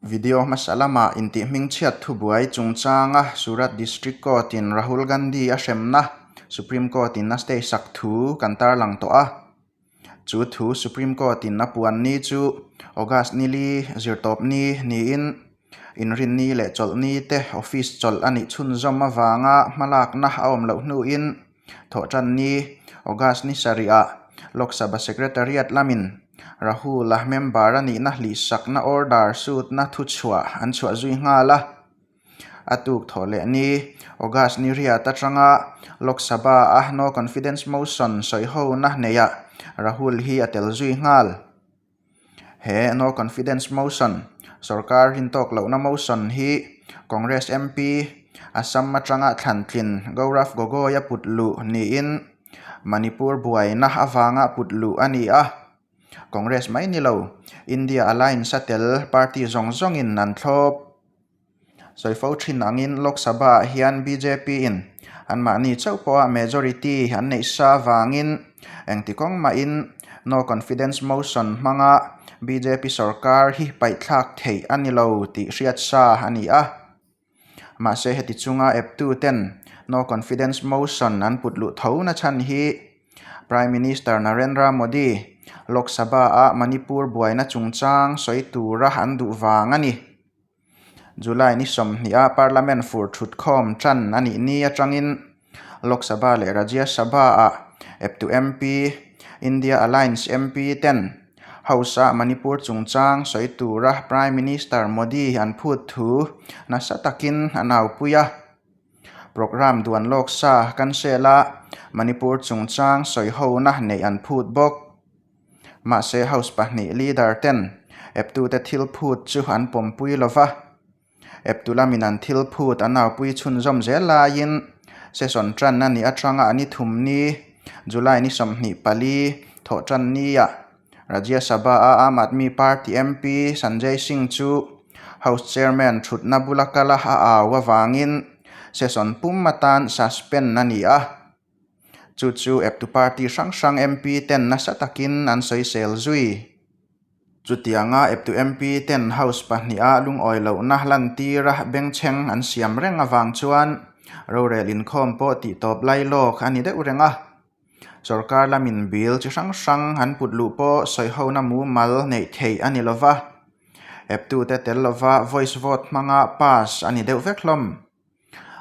Video hmasa lama intihhming chhiat thu buai chungchanga Surat District Court in Rahul Gandhi a hremna Supreme Court in a stay sak thu kan tarlang tawh a, chu thu Supreme Court in a puan ni chu August nili zirtawp ni niin inrin ni leh chawlh ni te office chawlh a nih chhunzawm avanga hmalakna a awm loh hnuin Thawhtan ni August ni sarihah Lok Sabha Secretariat lamin Rahula member-a nihna hlihsakna order sutna thuchhuah an chhuah zui nghal a. A tuk thawh leh ni August ni riat atanga Lok Sabha-a No Confidence Motion sawi hona hneihah Rahul hi a tel zui nghal. He No Confidence Motion, Sorkar hintawk lohna motion, hi Congress MP Assam atanga Thlantlin Gaurav Gogoi a put luh niin Manipur buaina avanga put luh a ni a. Congress mai ni lo, India Alliance a tel party zawng zawngin an thlawp Zawifo thin angin Lok Sabha-ah hian BJP-in anmahni chauh pawha majority an neih sa avangin engti kawng mahin No Confidence Motion hmanga BJP sawrkar hi paihthlak theih a ni lo tih hriat sa a ni a. Mahse heti chunga eptuten No Confidence Motion an put luh tho nachhan hi Prime Minister Narendra Modi Lok Sabha-ah Manipur buaina chungchang sawi tura an duh vang a ni. July ni sawmhniha Parliament fur thut khawm tan a nih ni atangin Lok Sabha leh Rajya Sabha-a Eptu MP, India Alliance MP ten House-a Manipur chungchang sawi tura Prime Minister Modi an phut thu nasa takin a naupui a. Programme duan lawk sa kan sel a, Manipur chungchang sawi hona neih an phut bawk. Mahse House pahnih leader ten Eptute thil phut chu an pawmpui lo va, Eptu lam in an thil phut a naupui chhunzawm zel laiin session tanna ni atanga a ni thum ni July ni sawmhnih pali thawh tan nia Rajya Sabha a Aam Aadmi Party MP Sanjay Singh chu House Chairman thutna bula kala a au avangin session pum atan suspend a ni a. Chu chu Eptu party hrang hrang MP ten nasa takin an sawisel zui. Chutianga Eptu MP ten House pahniha lungawi lohna lantira bengchheng an siam reng avang chuan rorel inkhawm pawh tih tawp lai lawk a ni deuh reng a. Sorkar lamin Bill chi hrang hrang an put luh pawh sawihona mumal neih theih a ni lova. Eptute tel lova voice vote hmanga pass a ni deuh vek hlawm.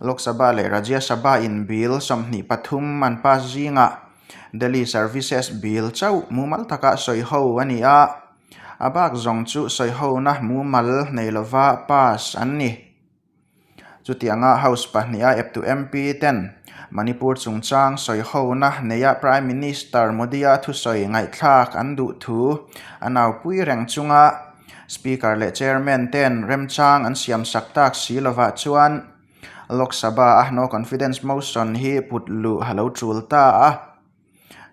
Lok Sabha leh Rajya Sabha in Bill sawmhnih pathum an pass zingah Delhi Services Bill chauh mumal taka sawi ho a ni a, a bak zawng chu sawi hona mumal nei lova pass an ni. Chutianga House pahnih a ep duh MP ten Manipur chungchang sawi hona neia Prime Minister Modi-a thusawi ngaihthlak an duh thu a naupui reng chunga Speaker leh Chairman ten remchang an siamsak tak si lovah chuan Lok Sabha a No Confidence Motion hi put luh a lo tul ta a.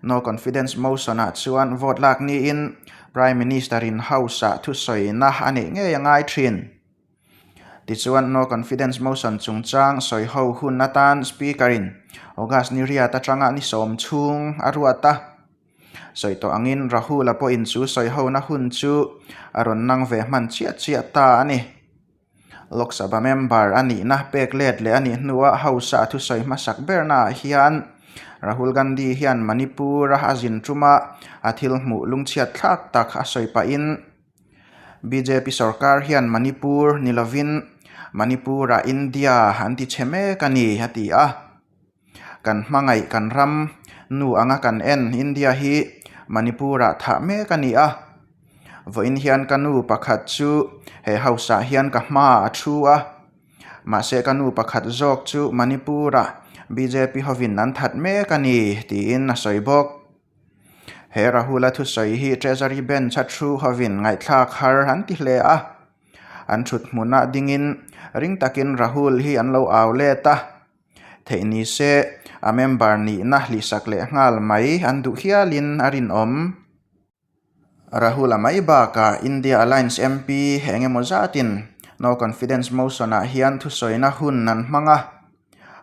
No Confidence Motion ah chuan vote lak niin Prime Minister in House ah thusawina a neih ngei a ngai thin. Tichuan No Confidence Motion chungchang sawi ho hun atan Speaker in August ni riat atanga ni sawm chhung a ruat a. sawi tawh angin Rahul-a pawhin chu sawi hona hun chu a rawn nang ve hman chiah chiah ta a ni. Lok Sabha member a nihna pek let leh a nih hnuah House-a a thusawi hmasak bernaah hian Rahul Gandhi hian Manipur-a a zin tuma a thil hmuh lungchhiat thlak tak a sawi pahin bjp sawrkar hian Manipur ni lovin Manipur-a India an ti chhe mek a ni a ti a. Kan hmangaih kan ram nu anga kan en India hi Manipur-ah thah mek a ni a. Vawiin hian ka nu pakhat chu he House-ah hian ka hma a thu a. Mahse ka nu pakhat zawk chu Manipur-ah bjp hovin an that mek a ni tiin a sawi bawk. He Rahul-a thusawi hi Treasury Bench-a thu hovin ngaihthlak har an ti hle a. An thuthmuna dingin ring takin Rahul hi an lo au let a. Theih ni se, a member nihna hlihsak leh nghal mai an duh hialin a rinawm. Rahul-a mai bakah India Alliance MP eng emaw zatin No Confidence Motion-ah hian thusawina hun an hmang a,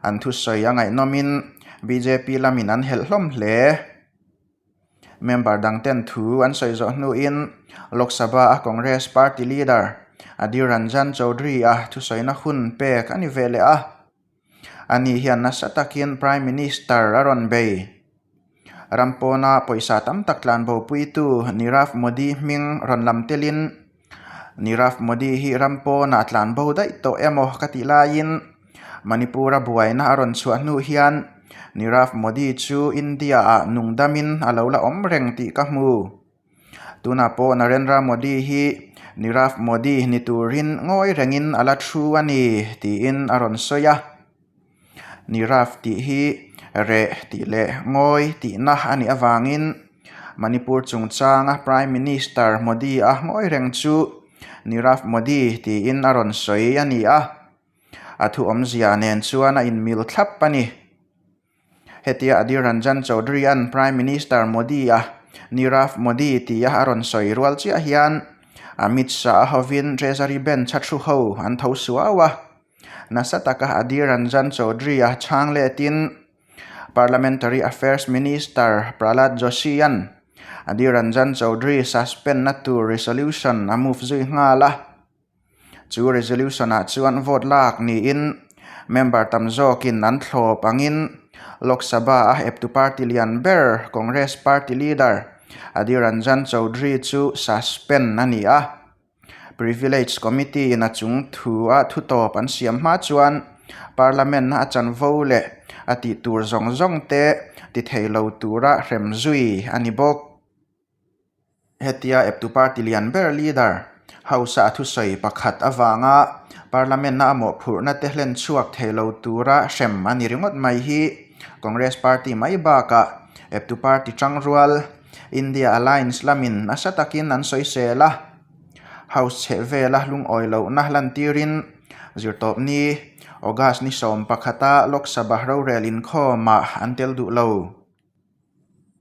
an thusawi a ngaihnawmin bjp lamin an helh hlawm hle. Member dang ten thu an sawi zawh hnuin Lok Sabha a Congress Party Leader Adhir Ranjan Chaudhary a thusawiina hun pek a ni ve leh a. Ani hian nasa takin Prime Minister a rawn bei. Ram pawna pawisa tam tak tlanbo puitu Nirav Modi hming rawn lam telin, Nirav Modi hi ram pawnah tlan bo daih tawh emaw ka tih laiin Manipura buaina a rawn chhuah hnu hian Nirav Modi chu India-ah nungdamin a lo la awm reng tih ka hmu. Tunah pawh Narendra Modi hi Nirav Modi ni turin ngawi rengin a la thu a ni tiin a rawn sawi a. Niraf tih hi reh tih leh ngawi tihna a nih avangin Manipur chungchanga Prime Minister Modi-a ngawi reng chu Nirav Modi tiin a rawn sawi a ni a, a thuawmzia nen chuan a inmil thlap a ni. Hetia Adhir Ranjan Chaudhry-a'n Prime Minister Modi-a Nirav Modi tia a rawn sawi rual chiah hian Amit Shah-a hovin Treasury Ben Chhatru ho an tho suau a. Nasa taka Adhir Ranjan Chaudhry-a chhang letin Parliamentary Affairs Minister Prahlad Joshi-a'n Adhir Ranjan Chaudhry suspend-na tur resolution a move zui nghal a. Chu resolution-ah chuan vote lak niin member tam zawkin an thlawp angin Lok Sabha-a Eptu Party lian ber Congress Party Leader Adhir Ranjan Chaudhry chu suspend a ni a. Privilege Committee in a chung thu a thu tawp an siam hma chuan Parliament a a chan vo leh a tih tur zawng zawng te ti thei lo tura hrem zui a ni bawk. Hetia Eptu Party lian ber Leader House a thusawi pakhat avanga Parliament a a mawhphurhna te hlen chhuak thei lo tura hrem a ni ringawt mai hi Congress Party mai bakah Eptu Party chang rual India Alliance lamin nasa takin an sawisel a, House chhehvela lungawi lohna lantirin zirtawpni August ni sawm pakhata Lok Sabha rorel inkhawmah an tel duh lo.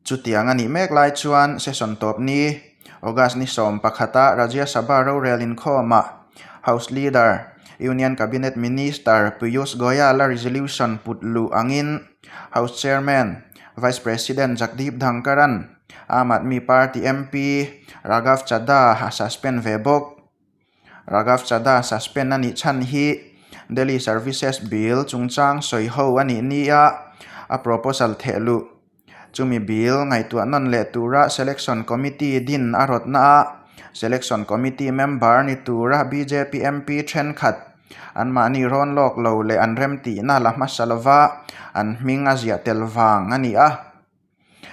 Chutiang a nih mek lai chuan session tawpni August ni sawm pakhata Rajya Sabha rorel inkhawmah House Leader, Union Cabinet Minister Piyush Goyal-a resolution put luh angin, House Chairman, Vice President Jagdeep Dhankaran, Aam Aadmi Party MP Raghav Chadha a suspend ve bawk. Raghav Chadha suspend a nih chhan hi Delhi Services Bill chungchang sawi ho a nih nia a proposal theh luh. Chumi Bill ngaihtuah nawn leh tura Selection Committee din a rawtnaah Selection Committee member ni tura bjp MP thenkhat Anmahni rawn lawk lo leh an remtihna la hmasa lova an hming a ziah tel vang a ni a.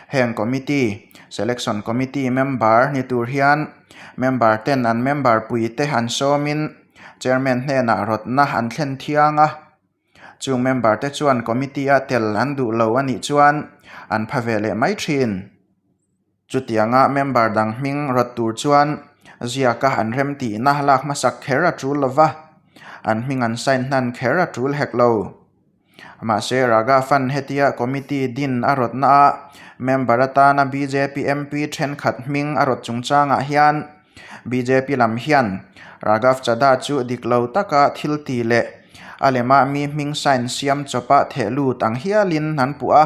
Heng Committee, Selection Committee, member ni tur hian member ten an member puite an sawmin Chairman hnenah rawtna an thlen thiang a. Chung member te chuan Committee-a tel an duh lo a nih chuan an pha ve leh mai thin. Chutianga member dang hming rawt tur chuan ziaka an rem tihna lak hmasak kher a tul lo va, an hming an sign hnan kher a tul hek lo. Mahse, Ragavan hetia committee din a rawtna a member atana bjp MP thenkhat hming a rawt chungchangah hian bjp lam hian Raghav Chadha chu dik lo taka thil ti leh a lemah mi hming sign siam chawpa theh lut ang hialin an puh a.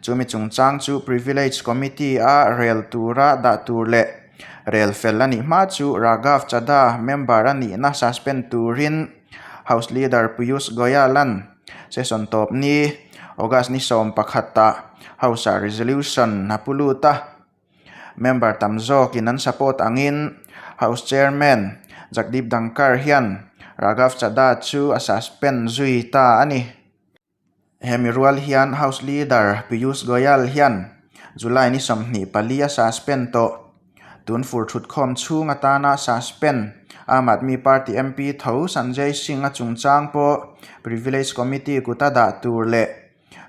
Chumi chungchang chu Privilege Committee-a rel tura dah tur leh rel fel a nih hma chu Raghav Chadha member-a nihna suspend turin House Leader Piyush Goyal-an session tawpni August ni sawm pakhata House-a resolution a pu lut a. Member tam zawkin an support angin House Chairman Jagdeep Dhankar hian Raghav Chadha chu a suspend zui ta a ni. Hemi rual hian House Leader Piyush Goyal hian July ni sawmhnih pali a suspend tawh. Tun fur thutkhawm chhung atana suspend Aam Aadmi Party MP tho Sanjay Singh a chungchang pawh Privilege Committee kut a dah tur leh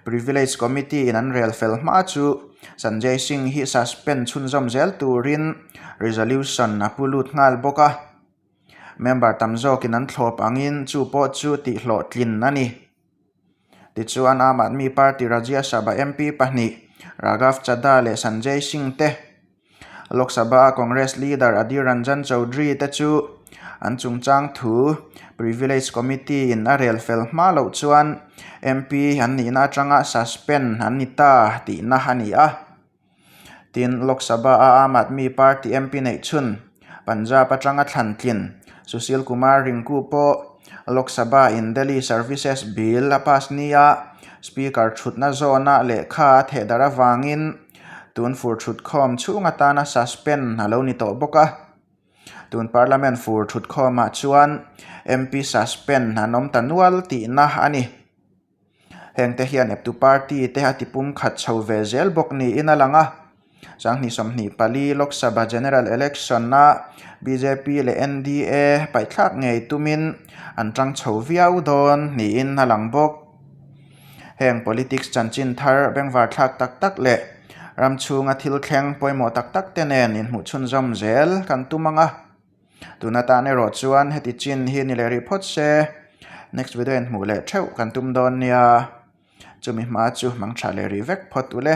Privilege Committee in an rel fel hma chu Sanjay Singh hi suspend chhunzawm zel turin resolution a pu lut nghal bawk a. Member tam zawkin an thlawp angin chu pawh chu tihhlawh tlin a ni. Tichuan, Aam Aadmi Party Rajya Sabha MP pahnih Raghav Chadha leh Sanjay Singh te, Lok Sabha-a Congress leader Adhir Ranjan Chaudhary te chu an chungchang thu Privilege Committee-in a rel fel hma loh chuan MP an nihna atanga suspend an ni ta tihna a ni a. tin Lok Sabha a Aam Aadmi Party MP neih chhun Punjab atanga thlan tlin Sushil Kumar Rinku pawh Lok Sabha in Delhi Services Bill a pass ni a, Speaker thutna zawna lehkha a theh darh avangin tun fur thutkhawm chhung atana suspend a lo ni tawh bawk a. Tun Parliament fur thutkhawmah chuan MP suspend an awm ta nual tihna a ni. Heng te hian Eptu Party te a tipum khat chho ve zel bawk niin a lang a. Sanghnih sawmhnih pali Lok Sabha General Election-a bjp leh NDA paihthlak ngei tumin an tang chho viau dawn niin a lang bawk. Heng politics chanchin thar, bengvarthlak tak tak leh ramchhunga thil thleng pawimawh tak tak te nen inhmuhchhunzawm zel kan tum ang a. tun atan erawh chuan heti chin hi ni leh rih phawt se next video in hmuh leh theuh kan tum dawn nia chumi hma chu hmang tha leh rih vek phawt ule.